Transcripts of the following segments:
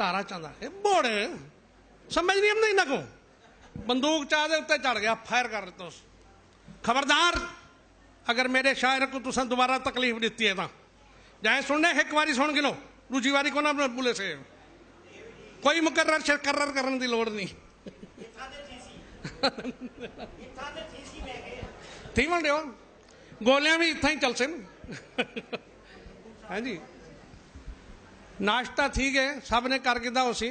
تارا چند آخے بوڑ سمجھ نہیں آمدی انہاں کو بندوق چاہ دے اتے چڑھ گیا فائر کر دیتا اس خبردار اگر میݙے شاعر کوں تساں دوبارہ تکلیف ݙتی ہے تاں جائیں سݨݨے ہک واری سݨ گھنو ݙوجھی واری کونا ٻولیسے کوئی مکرر شکرر کرݨ دی لوڑ نی تھیوݨ ݙیو گولیاں وی اتھاں ہی چلسن ہاں جی ناشتہ تھی ڳئے سب نے کر گھدا ہوسی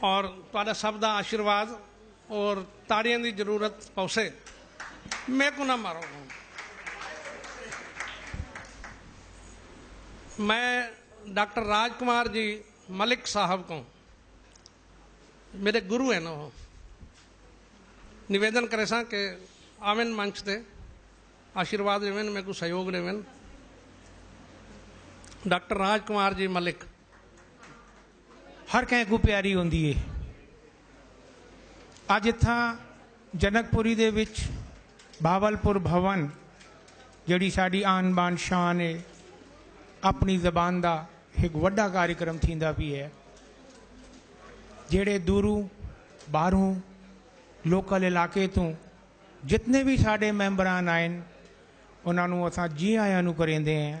اور تہاڈا سب دا آشیرواد اور تاڑیاں دی ضرورت پوسے۔ میکوں نہ مارو ہن۔ میں ڈاکٹر راج کمار جی ملک صاحب کوں میڈے گرو ہن او نویدن کریساں کہ آون منچ تے آشیرواد ڈیون میکوں سہیوگ ڈیون۔ ڈاکٹر راج کمار جی ملک۔ ہر کہیں کوں پیاری ہوندی ہے۔ اج اتھاں جنک پوری دے وچ بھاول پور بھون جیڑھی ساڈی آن بان شان ہے اپنی زبان دا ہک وڈا کاریکرم تھیندا پی ہے جیڑھے دوروں باہروں لوکل علاقے توں جتنے وی ساڈے ممبران آئن انہاں نوں اساں جی آیاں نوں کریندے ہیں۔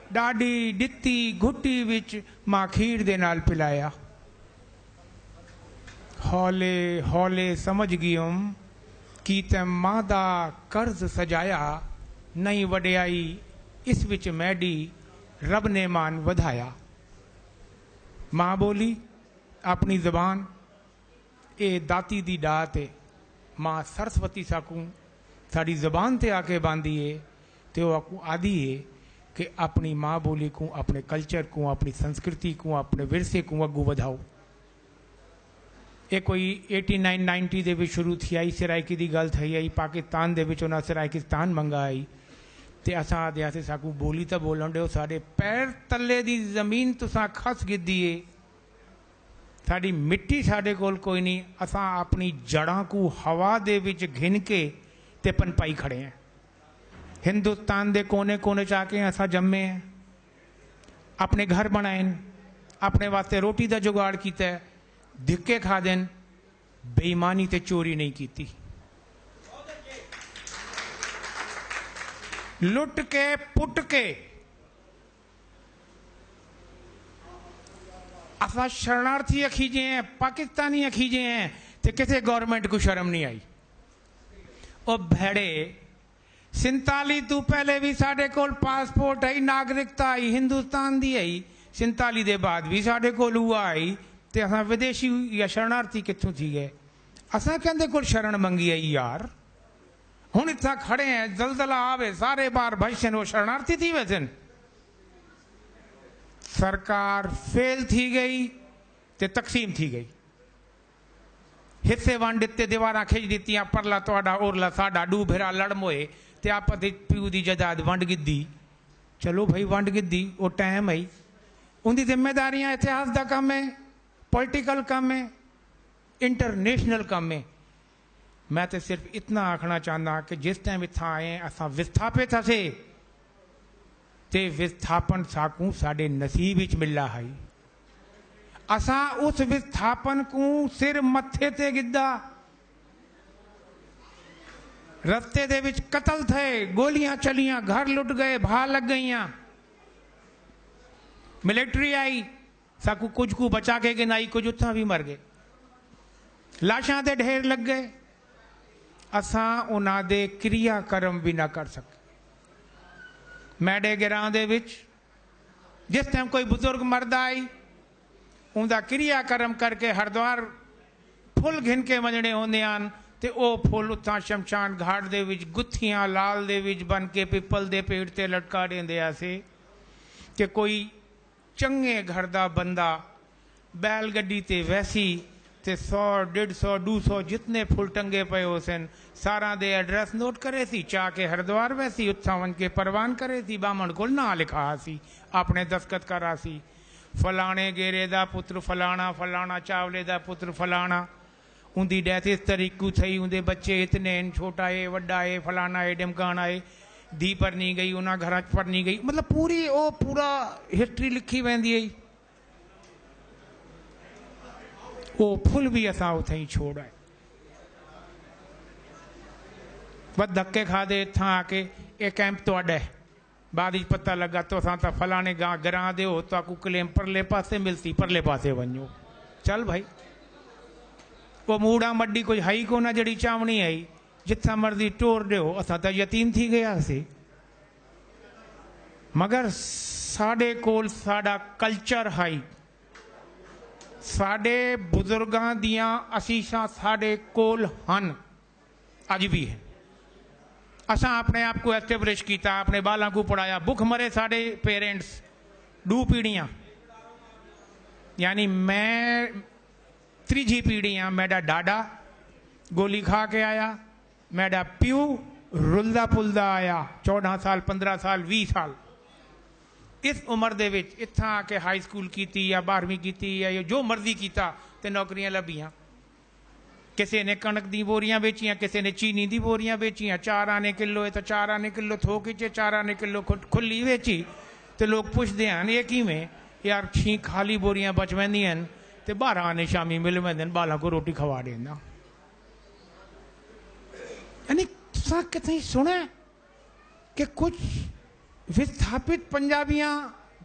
ݙاݙی ݙتی گھٹی وچ ماکھیر دے نال پلایا۔ ہولے ہولے سمجھ ڳیوم کہ تیں ماں دا قرض سجایا نئیں وݙیائی اس وچ میݙی رب نے مان ودھایا۔ ماں ٻولی، اپݨی زبان۔ اے داتی دی ڈات اے۔ ماء سرسوتی ساکوں ساڈی زبان تے آکے باندی اے تے او آکوں آدھی اے کہ اپنڑی ماء بولی کوں، اپنڑے کلچر کوں، اپنڑی سنسکرتی کوں، اپنڑے ورثے کوں اگوں ودھاؤ۔ اے کوئی ایٹی نائن نائنٹی دے وچ شروع تھی ہئی، سرائیکی دی گالھ تھئی ہئی، پاکستان دے وچ انہاں سرائیکستان منگا ہئی تے اساں آدھے ہاسے ساکوں بولی تاں بولنڑ ڈیو، ساڈے پیر تلے دی زمین تساں کھس گھدی اے۔ ساݙی مٹی ساݙے کول کوئی نی اساں آپݨی جڑاں کوں ہوا دے وچ گھن کے تے پنپائی کھڑے ہیں ہندوستان دے کونے کونے چ آکے اساں جمے ہیں آپݨے گھر بݨائن آپݨے واسطے روٹی دا جگاڑ کیتے دھکے کھادن بے ایمانی تے چوری نئیں کیتی لٹ کے پٹ کے اساں شرنارتھی اکھیجے ہیں پاکستانی اکھیجے ہیں تے کسے گورنمنٹ کوں شرم نی آئی او بھیڑے سنتالی توں پہلے وی ساڈے کول پاسپورٹ ہئی ناگرکتا ہئی ہندوستان دی ہئی سنتالی دے بعد وی ساڈے کول اوہا ہئی تے اساں ودیشی یا شرنارتھی کتھوں تھی گئے اساں کیندے کول شرن منگی ہئی یار۔ ہن اتھاں کھڑے ہیں زلزلہ آوے سارے باہر بھجسن او شرنارتھی تھی ویسن۔ سرکار فیل تھی گئی تے تقسیم تھی گئی۔ حصے ونڈ ڈتے دیواراں کھج ڈتیاں پرلا تہاڈا اورلا ساڈا ڈو بھرا لڑ موئے تے آپس اچ پیو دی جداد ونڈ گدی۔ چلو بھئی ونڈ گدی او ٹائم ہئی اوندی ذمہ داریاں اتحاس دا کم ہے پولیٹیکل کم ہے انٹرنیشنل کم ہے۔ میں تاں صرف اتنا آکھݨا چاہنداں کہ جس ٹائم اتھاں آئے ہیں اساں وستھاپت ہسے تے وستھاپن ساکوں ساݙے نصیب وچ ملا ہئی۔ اساں اس وستھاپن کوں سر متھے تے گھدا۔ رستے دے وچ قتل تھئے، گولیاں چلیاں، گھر لٹ ڳئے، بھاہ لڳ ڳئیاں، ملٹری آئی، ساکوں کجھ کوں بچا کے گھنائی کجھ اتھاں وی مر گئے۔ لاشاں دے ڈھیر لگ گئے۔ اساں انہاں دے کریا کرم وی نہ کر سکے۔ میڈے گراں دے وچ جس ٹائم کوئی بزرگ مردا ہئی اوندا کریا کرم کر کے ہردوار پھل گھن کے ونجنے ہوندے ہن تے او پھل اتھاں شمشان گھاٹ دے وچ گتھیاں لال دے وچ بن کے پپل دے پیڑ تے لٹکا ڈیندے ہاسے کہ کوئی چنگے گھر دا بندہ بیل گڈی تے ویسی تے سو ڈیڈھ سو ڈو سو جتنے پھل ٹنگے پئے ہوسن ساراں دے ایڈریس نوٹ کریسی چا کے ہردوار ویسی اتھاں ونج کے پروان کریسی بامنڑ کول ناں لکھا آسی آپنڑے دستخط کر آسی فلانے گیرے دا پتر فلانا فلانا چاولے دا پتر فلانا اوندی ڈیتھ اس طریق کوں تھئی اوندے بچے اتنے ہن چھوٹا اے وڈا اے فلانا اے ڈھمکانا اے دھی پرنی گئی انہاں گھراں اچ پرنی گئی مطلب پوری او پورا ہسٹری لکھی ویندی ہئی او پھل وی اساں اتھئیں چھوڑ آئے بس دھکے کھادے اتھاں آکے اے کیمپ تہاڈا ہے۔ بعد اچ پتہ لگا تساں تاں فلانے گاں گراں دے ہو تہاکوں کلیم پرلے پاسے ملسی پرلے پاسے ونجو چل بھائی او موڑاں مڈی کجھ ہئی کونا جیڑھی چاونی ہئی جتھاں مرضی ٹور ڈیو اساں تاں یتیم تھی گئے ہاسی مگر ساڈے کول ساڈا کلچر ہئی ساڈے بزرگاں دیاں اسیشاں ساڈے کول ہن۔ اج وی ہے۔ اساں اپݨے آپ کوں ایسٹیبلش کیتا، اپݨے ٻالاں کوں پڑھایا، بکھ مرے ساݙے پیرنٹس ݙو پیڑھیاں یعنی میں تریجھی پیڑھی ہاں میݙا ݙاݙا گولی کھا کے آیا، میݙا پیو رلدا پلدا آیا چوݙاں سال پندرہ سال ویہہ سال اس عمر دے وچ اتھاں آ کے ہائی سکول کیتی یا ٻارہویں کیتی یا جو مرضی کیتا تے نوکریاں لبھیاں۔ کسے نے کنڑک دیاں بوریاں ویچیاں کسے نے چینی دی بوریاں ویچیاں چار آنے کلو اے تاں چار آنے کلو تھوک اچ اے چار آنے کلو کھلی ویچی تے لوک پچھدے ہن اے کیویں یار چھیں خالی بوریاں بچ ویندیاں ہن تے بارہ آنے شامی مل ویندے ہن ٻالاں کوں روٹی کھوا ݙینداں یعنی تساں کتھائیں سݨیا ہے۔ کہ کجھ وستھاپت پنجابیاں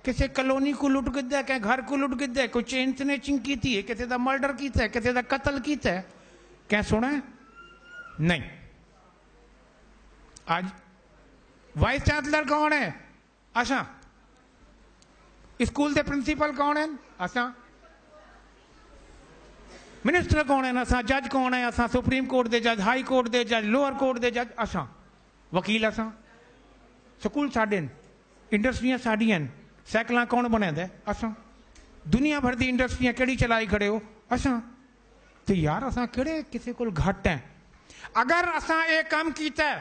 کسے کالونی کوں لٹ گھدا ہے کہیں گھر کوں لٹ گھدا ہے کوئی چین سنیچنگ کیتی ہے کسے دا مرڈر کیتا ہے کسے دا قتل کیتا ہے کہیں سنڑا ہے نئیں اج وائس چانسلر کون ہے اساں اسکول دے پرنسپل کون ہن؟ اساں منسٹر کون ہن؟ اساں جج کون ہیں؟ اساں سپریم کورٹ دے جج، ہائی کورٹ دے جج، لوور کورٹ دے جج، اساں وکیل اساں سکول ساڈے ہن، انڈسٹریاں ساڈیاں ہن، سائیکلاں کون بݨیندا ہے؟ اساں دنیا بھر دی انڈسٹریاں کیڑھی چلائی کھڑے ہو؟ اساں تے یار اساں کیڑھے کسے کول گھٹ ہیں؟ اگر اساں اے کم کیتا ہے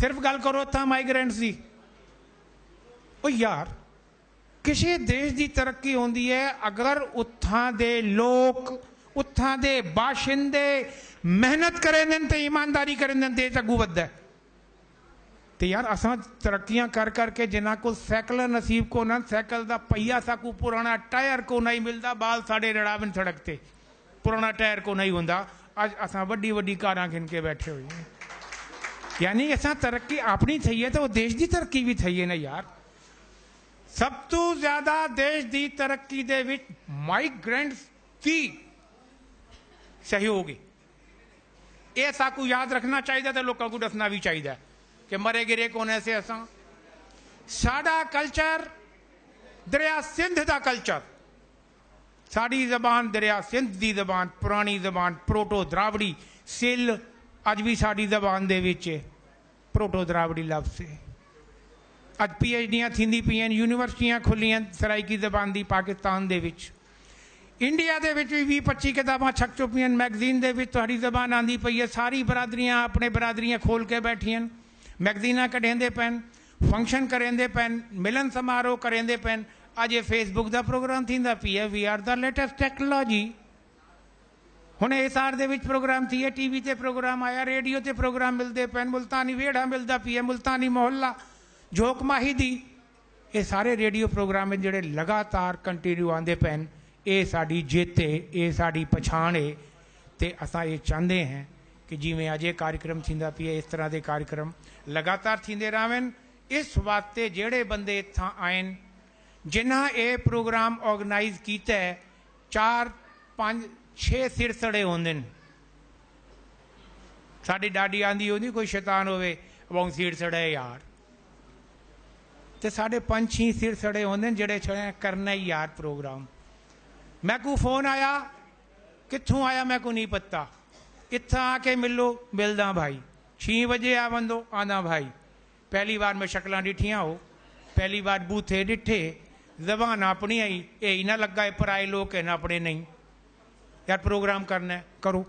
صرف گالھ کرو اتھاں مائیگرینٹس دی۔ او یار کسے دیش دی ترقی ہوندی ہے اگر اتھاں دے لوک اتھاں دے باشندے محنت کریندن تے ایمانداری کریندن دیش اگوں ودھدا ہے۔ تے یار اساں ترقیاں کر کر کے جنہاں کول سائیکلاں نصیب کونہن سائیکل دا پہیہ ساکوں پرانا ٹائر کونہائی ملدا بال ساڈے رڑاون سڑک تے۔ پراݨا ٹائر کونہی ہوندا، اڄ اساں وݙی وݙی کاراں گھن کے ٻیٹھے ہوئے ہیں۔ یعنی اساں ترقی آپݨی تھئی ہے تاں او دیش دی ترقی وی تھئی ہے نا یار۔ سب توں زیادہ دیش دی ترقی دے وچ مائیگرنٹس دی سہیوگ ہے۔ اے اساکوں یاد رکھݨا چاہیدا ہے تے لوکاں کوں ݙسݨا وی چاہیدا ہے کہ مرے گرے کونہیں سے اساں۔ ساݙا کلچر دریا سندھ دا کلچر۔ ساݙی زبان دریا سندھ دی زبان پراݨی زبان پروٹو دراوڑی سل اڄ وی ساݙی زبان دے وچ ہے پروٹو دراوڑی لفظ ہے اڄ پی ایچ ڈیاں تھیندی پئین یونیورسٹیاں کھلین سرائیکی زبان دی پاکستان دے وچ انڈیا دے وچ وی ویہہ پچی کتاباں چھپ چپین میگزین دے وچ تہاݙی زبان آندی پئی ہے ساری برادریاں اپݨے برادریاں کھول کے بیٹھین میگزیناں کڈھیندے پئین فنکشن کریندے پئن، ملن سماروہ کریندے پئن، اڄ اے فیس بک دا پروگرام تھیندا پی اے، وی آر دا لیٹسٹ ٹیکنالوجی، ہݨ ایس آر دے وچ پروگرام تھیے، ٹی وی تے پروگرام آیا، ریڈیو تے پروگرام ملدے پئن، ملتانی ویڑھا ملدا پی اے، ملتانی محلہ، جھوک ماہی دی، اے سارے ریڈیو پروگرام ہن جیڑھے لگاتار کنٹینیو آندے پئن، اے ساݙی جت اے، اے ساݙی پچھاݨ اے تے اساں اے چاہندے ہیں کہ جیویں اج اے کاریکرم تھیندا پئے اس طرح دے کاریکرم لگاتار تھیندے راہون اس واسطے جیہڑے بندے اتھاں آئن جنہاں اے پروگرام آرگنائز کیتے چار پنج چھے سر سڑے ہوندن ساڈی ڈاڈی آندی ہوندی کوئی شیطان ہووے اباؤں سیڑ سڑے یار تے ساڈے پنج چھیں سر سڑے ہوندن جیہڑے چھڑے کرنے یار پروگرام میکوں فون آیا کتھوں آیا میں کوں نی پتہ اتھاں آ کے ملو ملداں بھائی چھیں وجے آ وندو آنداں بھائی پہلی وار میں شکلاں ڈٹھیاں ہو پہلی وار بوتھے ڈٹھے زبان آپنڑی ہئی اے ای نہ لگا اے پرائے لوک ہن آپنڑے نئیں یار پروگرام کرنا ہے کرو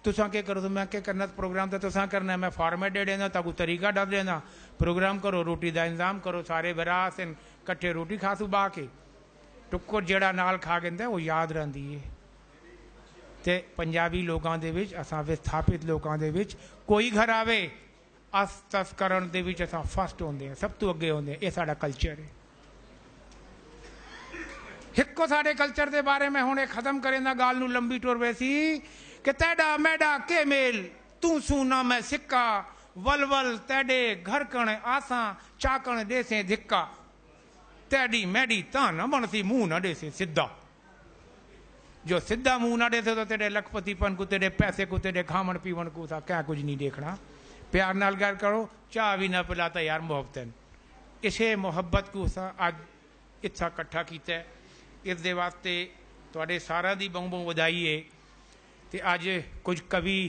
تساں کے کرو میں کے کرنا پروگرام تے تساں کرنا ہے میں فارمیٹ ڈے ڈیندا تاکو طریقہ ڈس ڈیندا پروگرام کرو روٹی دا انتظام کرو سارے بھرا ہسن کٹھے روٹی کھاسو با کے ٹکر جیڑھا نال کھا گھندا ہے او یاد رہندی ہے تے پنجابی لوکاں دے وچ اساں وستھاپت لوکاں دے وچ کوئی گھر آوے اس تس کرݨ دے وچ اساں فرسٹ ہوندے ہیں سب توں اگے ہوندے ہیں اے ساڈا کلچر ہے۔ ہکو ساڈے کلچر دے بارے میں ہن اے ختم کریندا گالھ نوں لمبی ٹر ویسی کہ تیڈا میڈا کے میل توں سوں نہ میں سکا ول ول تیڈے گھر کن آساں چاکݨ ڈیسیں دھکا۔ تیڈی میڈی تاں نہ بنڑسی منہ نہ ڈیسے سدھا جو سدھا منہ نہ ڈیسے تاں تیڈے لکھ پتی پن کوں تیڈے پیسے کوں تیڈے کھاون پیون کوں اساں کہیں کجھ نی ڈیکھنا پیار نال گل کرو چاہ وی نہ پلا تاں یار محبتن اسے محبت کوں اساں اج اتھاں کٹھا کیتے اس دے واسطے تہاڈے ساراں دی بہوں بہوں ودھائی اے تے اج کجھ کوی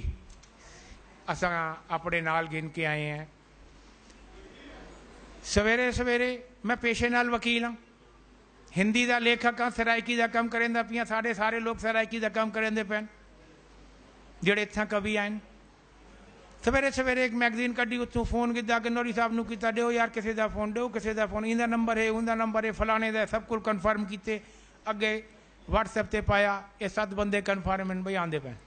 اساں اپنڑے نال گھن کے آئے ہیں۔ سویرے سویرے میں پیشے نال وکیل ہاں۔ ہندی دا لیکھک ہاں، سرائیکی دا کم کریندا پیاں، ساڈے سارے لوک سرائیکی دا کم کریندے پین جیڑھے اتھاں کوی آئین۔ سویرے سویرے ہک میگزین کڈھی اتھوں فون گھدا کہ نوری صاحب نوں کیتا ڈیو یار کسے دا فون ڈیو کسے دا فون ایندا نمبر ہے اوندا نمبر ہے فلانے دا سب کول کنفرم کیتے اگے واٹس ایپ تے پایا اے ست بندے کنفرم ہن بھئی آندے پین۔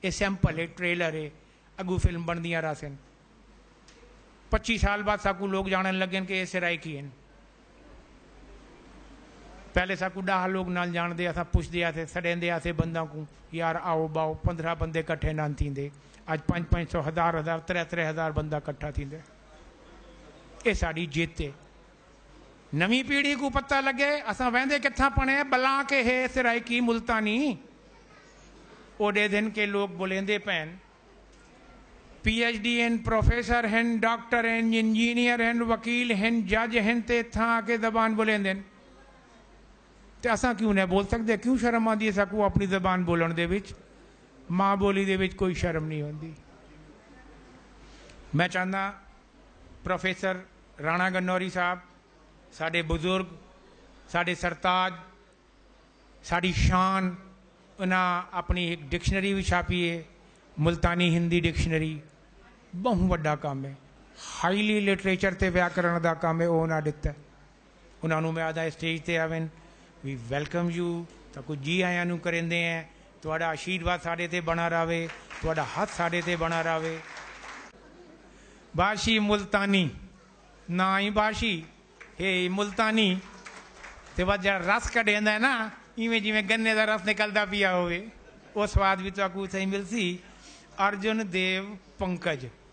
اے سیمپل ہے، ٹریلر ہے، اگوں فلم بݨدیاں رہسن۔ پچی سال بعد ساکوں لوک ڄاݨݨ لڳن کہ اے سرائیکی ہن۔ پہلے ساکوں ݙاہ لوک نال ڄاݨدے ہاساں، پچھدے ہاسے، سݙیندے ہاسے بنداں کوں، یار آؤ ٻہو، پندرھاں بندے کٹھے نان تھیندے، اڄ پنج پنج سو، ہزار ہزار، ترے ترے ہزار بندہ کٹھا تھیندے۔ اے ساݙی جت ہے، نویں پیڑھی کوں پتہ لگے اساں ویندے کتھاں پنے بلاں کہ ہے سرائیکی ملتانی اوڈے دھن کے لوگ بلیندے پین پی ایچ ڈی ہن پروفیسر ہن ڈاکٹر ہن انجینئر ہن وکیل ہن جج ہن تے اتھاں آکے زبان بلیندن تے اساں کیوں نہ بول سکدے کیوں شرم آندی ہے ساکوں اپنی زبان بولن دے وچ ماں بولی دے وچ کوئی شرم نہیں ہوندی میں چاہنداں پروفیسر رانا گنوری صاحب ساڈے بزرگ ساڈے سرتاج ساڈی شان انہاں اپنی ہک ڈکشنری وی چھاپی ہے ملتانی ہندی ڈکشنری بہوں وڈا کم ہے ہائیلی لٹریچر تے ویاکرن دا کم ہے او انہاں ڈتا ہے۔ انہاں نوں میں آہداں اسٹیج تے آون وی ویلکم یو تاں کوں جی آیاں نوں کریندے ہیں تہاڈا آشیرواد ساڈے تے بنڑا راہوے تہاڈا ہتھ ساڈے تے بنڑا راہوے بھاشی ملتانی ناں ای بھاشی ہے ای ملتانی تے ود جیڑھا رس کڈھیندا ہے نا ایویں جیویں گنے دا رس نکلدا پیا ہووے او سواد وی تہاکوں اتھاں ای ملسی ارجن دیو پنکج۔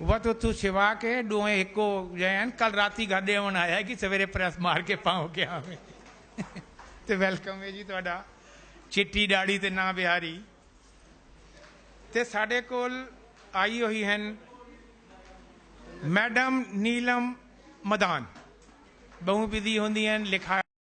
وت اتھوں سوا کے ڈوہیں ہکو جئے ہن کل راتی گھر ڈیون آیا ہے کہ سویرے پریس مار کے پاؤں کے آویں تے ویلکم ہے جی تہاڈا چٹی ڈاڑھی تے ناں بہاری تے ساڈے کول آئی ہوئی ہن میڈم نیلم مدان بہوں بزی ہوندی ہن لکھا